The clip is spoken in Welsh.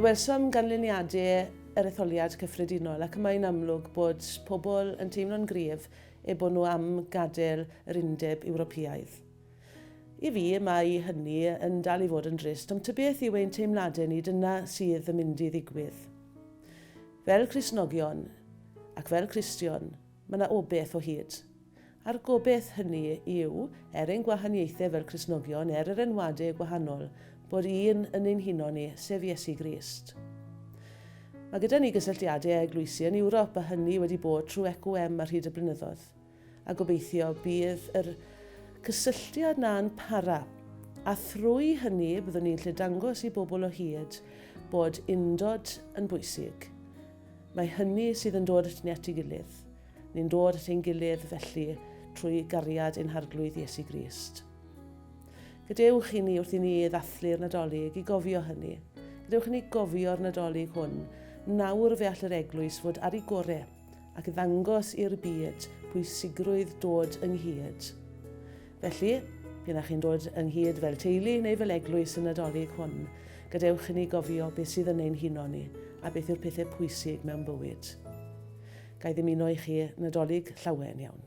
Fe welsom ganlyniadau yr etholiad cyffredinol ac y mae'n amlwg bod pobl yn teimlo'n gryf eu bod nhw am gadael yr Undeb Ewropeaidd. I fi, mae hynny yn dal i fod yn drist, ond tybeth yw ein teimladau ni dyna sydd yn mynd i ddigwydd. Fel Cristnogion, ac fel Cristion, Mae yna obaith o hyd. A'r gobaith hynny yw, er ein gwahaniaethau fel Cristnogion, er yr enwadau gwahanol, bod un yn ein huno ni, sef Iesu Grist. Mae gyda ni gysylltiadau â eglwysi yn Ewrop a hynny wedi bod trwy EQM ar hyd y blynyddoedd. A gobeithio bydd yr cysylltiad 'na yn para, a thrwy hynny byddwn ni'n gallu dangos i bobl o hyd bod undod yn bwysig. Mae hynny sydd yn dod atyn ni at ei gilydd. Ni'n dod at ein gilydd felly trwy gariad ein Harglwydd Iesu Grist. Gadewch i ni wrth i ni ddathlu'r Nadolig i gofio hynny. Gadewch i ni gofio'r Nadolig hwn. Nawr fe all yr Eglwys fod ar ei gore ac ddangos i'r byd pwysigrwydd dod ynghyd. Felly, p'un a chi'n dod ynghyd fel teulu neu fel eglwys yn Nadolig hwn, gadewch i ni gofio beth sydd yn ein huno ni a beth yw'r pethau pwysig mewn bywyd. Ga i ddymuno i chi Nadolig llawen iawn.